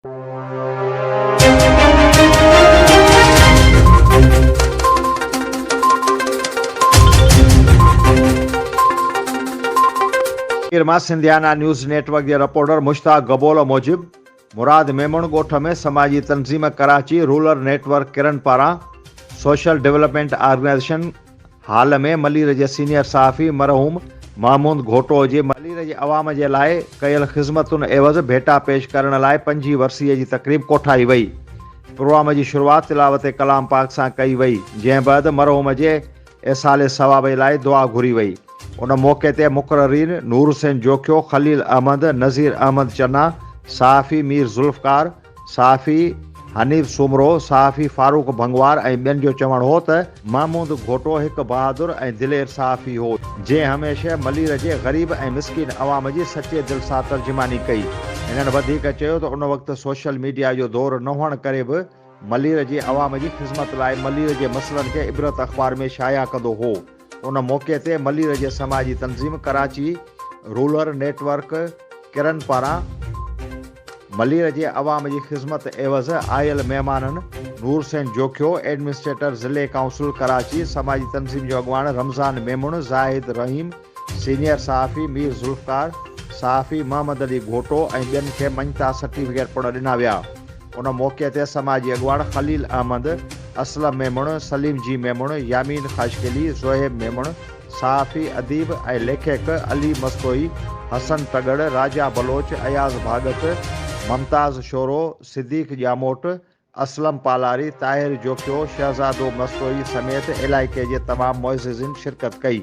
پير مان Sindhiana news network جي reporter Mushtaq Gabol موجب مراد ميمڻ ڳوٺ ۾ سماجي تنظيم ڪراچي رولر نيٽ ورڪ ڪرن پاران social development organisation hall ۾ Malir جي سينيئر صحافي مرحوم محمود گهوٽو جي ملير جي عوام جي لاء ڪيل خذمتن عيوض ڀيٽا پيش ڪرڻ لاء پنجين ورسيء جي تقريب ڪوٺائي وئي. پروام جي شروعات تلاوت ڪلام پاڪ سان ڪئي وئي، جنهن بعد مرحوم جي ايصال ثواب لاء دعا گهري وئي. ان موقعي تي مقررين نور حسين جوکيو، خليل احمد، نذير احمد چنا، صحافي مير ذوالفقار، صحافي حنيف سومرو، صحافي فاروق ڀنگوار ۽ ٻين جو چوڻ هو ته، محمود گهوٽو هڪ بهادر ۽ دلير صحافي هو، جنهن هميشه ملير جي غريب ۽ مسڪين عوام جي سچي دل سان ترجماني ڪئي. هنن وڌيڪ چيو ته ان وقت سوشل ميڊيا جو دور نه هئڻ ڪري به ملير جي عوام جي خذمت لاء ملير جي مسئلن کي عبرت اخبار ۾ شايع ڪندو هو. ان موقعي تي ملير جي سماجي تنظيم ڪراچي رولر نيٽ ورڪ ڪرن پاران ملير جي عوام جي خدمت عيوض آيل مهمانن نور حسين جوکيو، ايڊمنسٽريٽر ضلعي ڪائونسل ڪراچي، سماجي تنظيم جو اڳواڻ رمضان ميمڻ، زاهد رحيم، سينيئر صحافي مير ذوالفقار، صحافي محمد علي گهوٽو ۽ ٻين کي مڃتا سرٽيفڪيٽ پڻ ڏنا ويا. ان موقعي تي سماجي اڳواڻ خليل احمد، اسلم ميمڻ، سليم جي ميمڻ، يامين خاشقلي، زوهيب ميمڻ، صحافي، اديب ۽ ليکڪ علي مستوئي، حسن ٽڳڙ، راجا بلوچ، اياز ڀاڳت، ممتاز شورو، صديق ڄاموٽ، اسلم پالاري، طاهر جوکيو، شهزادو مستوئي سميت علائقي جي تمام معززين شرڪت ڪئي.